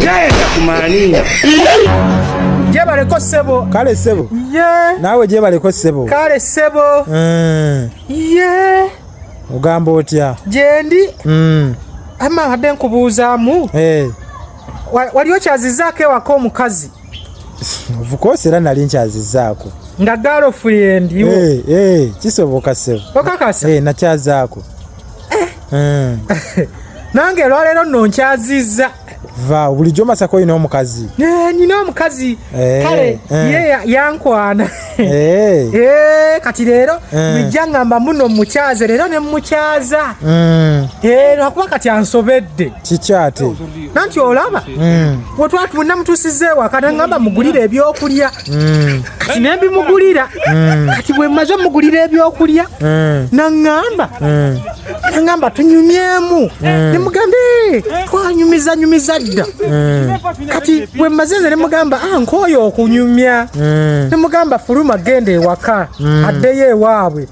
Jayenda kumaaninga. Jebaleko sebo. Kale sebo. Ye. Nawe jebaleko sebo. Kale sebo. Mm. Ye. Ugamba otya? Jendi. Mm. Ama hade nkubuuzamu. Eh. Hey. Wali okyazizaako ewaka omukazi? Of course era nali nkyazizaako. Nga girlfriend yo. Eh, hey, eh, hey, kisoboka sebo. Okakasa. Eh, hey, nakyazaako. eh. eh. nange olwaleero nno nkyazizza va bulijjo masaka olina omukazi eh, nina omukazi kale ye yankwana kati leero bijja ngamba muno mukyaze leero ne mumukyaza hmm. lwakuba kati ansobedde kikyate nanti olaba mm. wetwatunda mutusiza ewaka nangamba mugulire ebyokulya mm. kati nembimugulira mm. kati bwemaze mugulira ebyokulya nangamba nangamba tunyumyemu nemugamba eh, twanyumiza nyumiza dda kati bwemaze nze nemugamba ah, nkoyo okunyumya nemugamba fuluma genda ewaka addeyo ewaabwe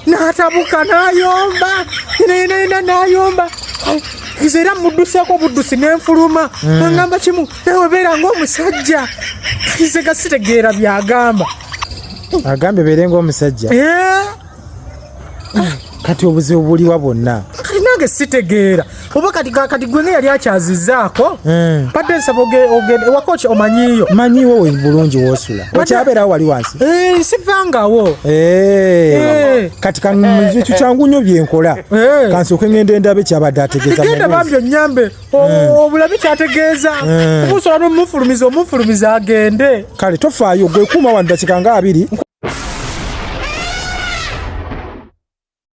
natabuka nayomba nayomba nze era mudduseeko obuddusi nenfuluma hmm. angamba kimu nawe beera ngaomusajja nze gasitegeera byagamba agambye beere ngaomusajja eh? kati obuzibu buliwa bwonna kati nange sitegeera oba kati kati gwenga yali akyazizaako hmm. badde nsaba ogende ewaka oki omanyiiyo manyiiwo bulungi wosula okyabeerawo wali wansi eh, sivangawo eh, eh. kati kanmiziki kyangu nnyo byenkola kansooke ngenda endabe kyabadde ategeezagenda bambi onyambe obulabe kyategeeza kusobola nomufulumiza omufulumiza agende kale tofaayo gwekuuma wanu dakika nga abiri